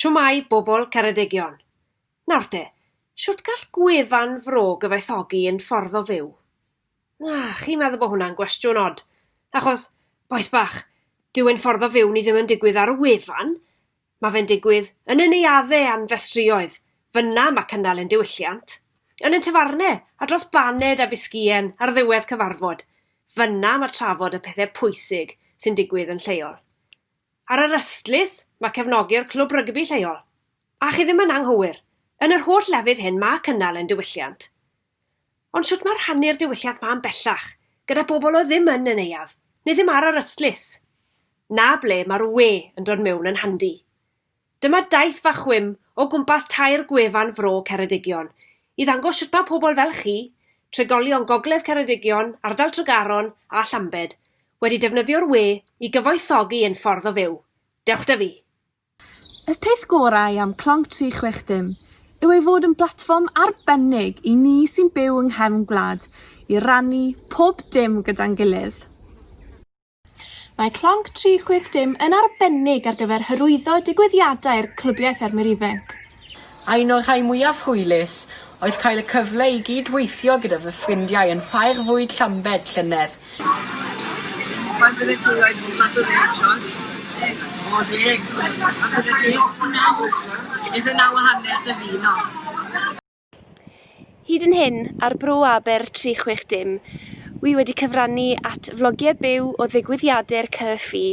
Shwmae, bobl Ceredigion! Nawr te, shwt gall gwefan fro gyfoethogi ein ffordd o fyw? Na, chi'n meddwl bod hwnna'n gwestiwn od? Achos, bois bach, dyw ein ffordd o fyw ni ddim yn digwydd ar y wefan, Mae fe'n digwydd yn y neuaddau a'n festrïoedd, fynna mae cynnal ein diwylliant, yn ein tafarnau a dros baned a bisgïen ar ddiwedd cyfarfod, fynna mae trafod y pethau pwysig sy'n digwydd yn lleol. Ar yr ystlys, mae cefnogi'r clwb rygbi lleol. A chi ddim yn anghywir, yn yr holl lefydd hyn mae cynnal ein diwylliant. Ond shwt mae rhannu'r diwylliant ma yn bellach, gyda bobl oedd ddim yn y neuadd, neu ddim ar yr ystlys? Na ble mae'r we yn dod mewn yn handi. Dyma daith fach chwim o gwmpas tair gwefan fro Ceredigion, i ddangos shwt mae pobl fel chi, trigolion Gogledd Ceredigion, Ardal Tregaron a Llambed, wedi defnyddio'r we i gyfoethogi ein ffordd o fyw. Dewch 'da fi! Y peth gorau am Clonc 360 yw ei fod yn blatfform arbennig i ni sy'n byw yng nghefn gwlad i rannu pob dim gyda'n gilydd. Mae Clonc 360 yn arbennig ar gyfer hyrwyddo digwyddiadau'r Clybiau Ffermwyr Ifanc. Un o'r rhai mwyaf hwylus oedd cael y cyfle i gyd-weithio gyda fy ffrindiau yn Ffair Fwyd Llambed llynedd. Faint byddet ti'n rhoi mas o ddeg siorts? O deg. A byddet ti? Naw. Ife naw a hanner dy fino? Hyd yn hyn, ar Bro Aber 360, wi wedi cyfrannu at flogiau byw o ddigwyddiade'r CCFI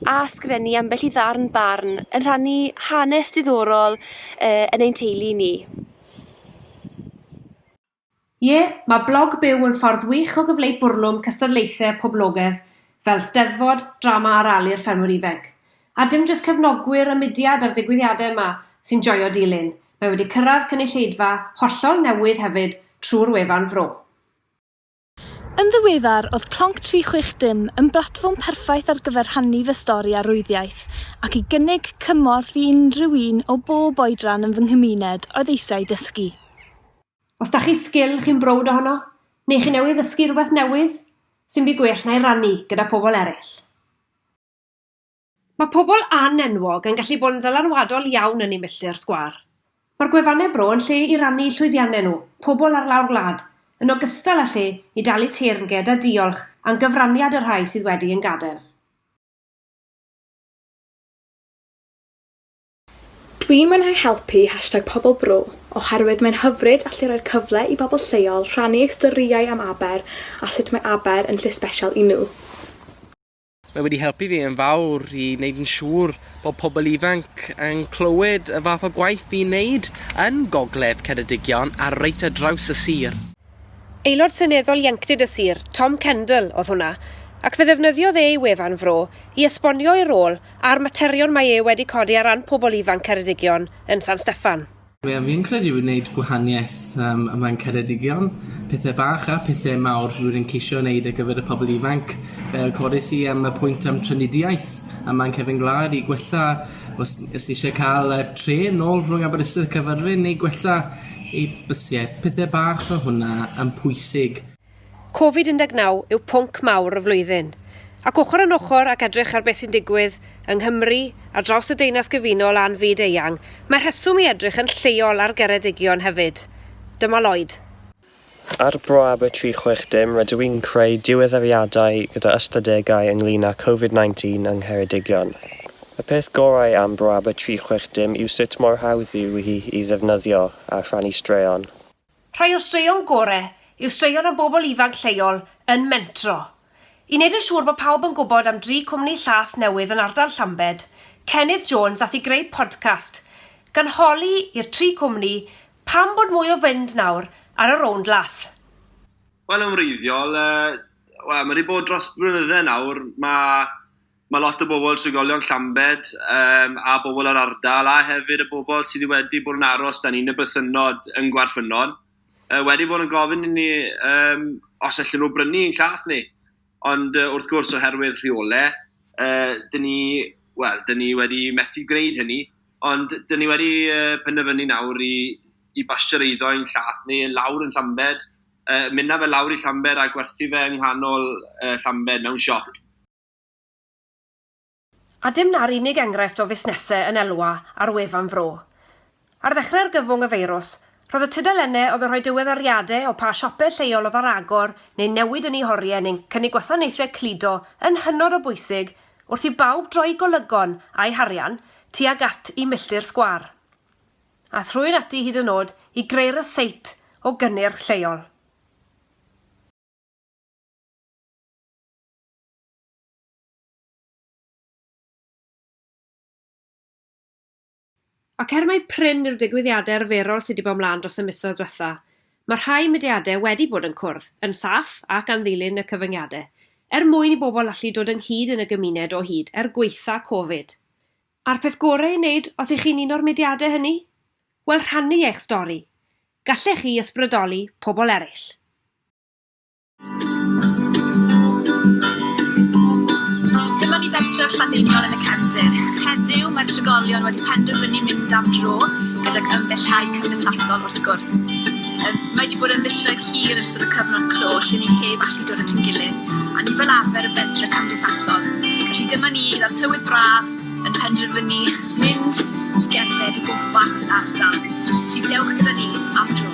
a sgrennu ambell i ddarn barn yn rhannu hanes diddorol yn ein teulu ni. Ie, mae blog byw yn ffordd wych o gyfleu bwrlwm cystadlaethau poblogedd fel 'Steddfod, Drama ar Âl i'r Ffermwr Ifainc'. A dim jyst cefnogwyr y mudiad a'r digwyddiadau yma sy'n joio dilyn, mae wedi cyrraedd cynulleidfa hollol newydd hefyd trwy'r wefan Fro. Yn ddiweddar, oedd Clonc 360 yn blatfform perffaith ar gyfer rhannu fy stori arwyddiaeth ac i gynnig cymorth i unrhyw un o bob oedran yn fy nghymuned oedd eisiau dysgu. Os da chi sgil chi'n browd ohono, neu chi newydd ddysgu rhywbeth newydd, sy'm byd gwell na'i rannu gyda pobl eraill. Mae pobl an-enwog yn gallu bod yn ddylanwadol iawn yn eu milltir sgwâr. Mae'r gwefannau bro yn lle i rannu llwyddiannau nhw, pobl ar lawr gwlad, yn ogystal â lle i dalu teyrnged a diolch am gyfraniad y rhai sydd wedi ein gadael. Dwi'n mwynhau helpu hashtag Pobl Bro oherwydd mae'n hyfryd allu rhoi'r cyfle i bobl lleol rhannu eu storïau am Aber a sut mae Aber yn lle sbesial i nhw. Mae wedi helpu fi yn fawr i wneud yn siŵr bod pobl ifanc yn clywed y fath o gwaith fi'n wneud yn Gogledd Ceredigion a reit ar draws y sir. Aelod Seneddol Ieuenctid y Sir, Tom Kendall, oedd hwnna, ac fe ddefnyddiodd e ei wefan Fro i esbonio ei rôl a'r materion mae e wedi codi ar ran pobl ifanc Ceredigion yn San Steffan. Be fi'n credu yw neud gwahanieth yym a mae'n Ceredigion. Pethe bach a pethe mawr rydw i'n ceisio neud ar gyfer y pobol ifanc yy codes i yym y pwynt am trafnidiaeth a mae'n cefn gwlad i gwella os os ti isie ca'l yy trên nôl rhwng Aberystwyth a Caerfyrddin neu gwella ei bysie pethe bach fel hwnna yn pwysig. Covid-19 yw pwnc mawr y flwyddyn, ac ochr yn ochr ac edrych ar beth sy'n digwydd yng Nghymru, ar draws y Deyrnas Gyfunol a'n fyd eang, mae rheswm i edrych yn lleol ar Geredigion hefyd. Dyma Lloyd. Ar braf y 360 rydw i'n creu diweddariadau gyda ystadegau ynglŷn â Covid-19 yng Ngheredigion. Y peth gorau am braf y 360 yw sut mor hawdd yw hi i ddefnyddio a rhannu straeon. Rhai o'r straeon gore yw straeon am bobl ifanc lleol yn mentro. I wneud yn siŵr bod pawb yn gwybod am dri cwmni llaeth newydd yn ardal Llambed, Cennydd Jones aeth i greu podcast gan holi i'r tri cwmni pam bod mwy o fynd nawr ar y rownd laeth. Wel yn wreiddiol, yy, wel ma' 'di bod dros blynydde nawr, ma' Mae lot o bobl, trigolion Llambed um, a bobl yr ardal, a hefyd y bobl sydd wedi bod yn aros dan un y bythynnod yn Gwarffynnon, uh, wedi bod yn gofyn i ni um, os allan nhw brynu yn llath ni. Ond uh, wrth gwrs oherwydd rheole, uh, dyn ni, well, dyn ni wedi methu gwneud hynny, ond dyn ni wedi uh, penderfynu nawr i, i basio'r eiddo yn llath ni, lawr yn Llambed, uh, mynd na fe lawr i Llambed a gwerthu fe yng nghanol uh, Llambed mewn siop. A dim 'na'r unig enghraifft o fusnesau yn elwa ar wefan Fro. Ar ddechrau argyfwng y feirws, roedd y tudalennau oedd yn rhoi diweddariadau o pa siopau lleol oedd ar agor neu'n newid yn eu horiau neu'n cynnig gwasanaethau cludo yn hynod o bwysig wrth i bawb droi golygon a'u harian tuag at Y Milltir Sgwâr. Aeth rhywun ati hyd yn oed i greu ryseit o gynnyrch lleol. Ac er mai prin yw'r digwyddiadau arferol sydd wedi bod ymlaen dros y misoedd diwetha', mae rhai mudiadau wedi bod yn cwrdd, yn saff ac am ddilyn y cyfyngiadau, er mwyn i bobl allu dod ynghyd yn y gymuned o hyd er gwaetha' Covid. A'r peth gorau ei wneud os y'ch chi'n un o'r mudiadau hynny? Wel, rhannu eich stori! Gallech chi ysbrydoli pobl eraill. Dyma ni bentref Llanddeiniol yn y cefndir. Heddiw, mae'r trigolion wedi penderfynu mynd am dro, gydag ymbellhau cymdeithasol wrth gwrs. Yym, mae 'di bod yn fisoedd hir ers yr y cyfnod clo lle ni heb allu dod at ein gilydd, a ni fel arfer yn bentre cymdeithasol. Felly dyma ni, gyda'r tywydd braf, yn penderfynu mynd i gerdded o gwmpas yr ardal. Felly dewch gyda ni am dro.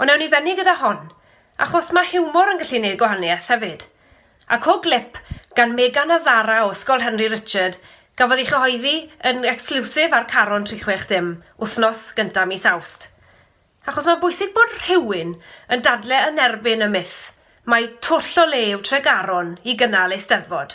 Ond ewn ni fynnu gyda hon, achos mae hiwmor yn gallu neud gwahaniaeth hefyd. A co glip gan Megan a Zara o Ysgol Henry Richard gafodd ei chyhoeddi yn ecsgliwsif ar Caron 360 wthnos gynta mis Awst. Achos mae'n bwysig bod rhywun yn dadle yn erbyn y myth mai twll o le yw Tregaron i gynnal Eisteddfod.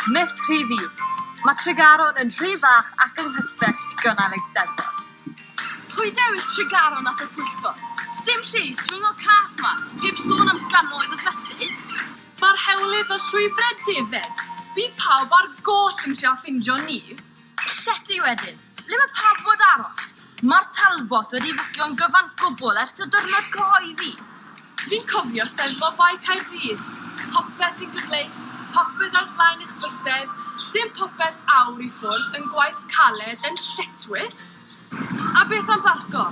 Myth rhif un, Mae Tregaron yn rhy fach ac yng nghysbell i gynnal Eisteddfod. Pwy dewis Tregaron at y pwyllgor? Sdim lle i swyngo cath 'ma, heb sôn am gannoedd o fysus! Mae'r hewlydd o llwybrau defaid, bydd pawb ar goll yn trio ffeindio ni! Llety wedyn. Ble mae pawb fod aros? Mae'r Talbot wedi fwcio'n gyfan gwbl ers y diwrnod cyhoeddi. Fi'n cofio Steddfod Bae Caerdydd. Popeth yn gyfleus, popeth ar flaen eich bysedd, dim popeth awr i ffwrdd yn gwaith caled yn lletchwith. A beth am barco?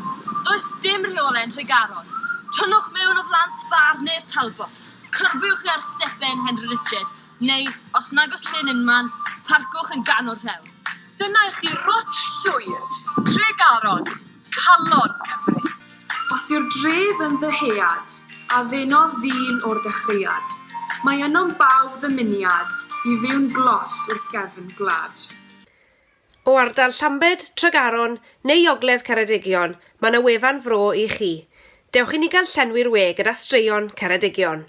Does dim rheole'n Nhregaron. Tynnwch mewn o flan Spar neu'r Talbot. Cyrbiwch ar stepen Henry Richard. Neu, os nag oes llyn unman, parcwch yn ganol rhewl. Dyna i chi rwtsh llwyd Tregaron, calon Cymru. Os yw'r dref yn ddyhead, a ddenodd ddyn o'r dechreuad, mae ynom bawb ddymuniad i fyw'n glos wrth gefn gwlad. O ardal Llambed, Tregaron, neu ogledd Ceredigion, mae 'na wefan fro i chi. Dewch i ni gael llenwi'r we gyda straeon Ceredigion.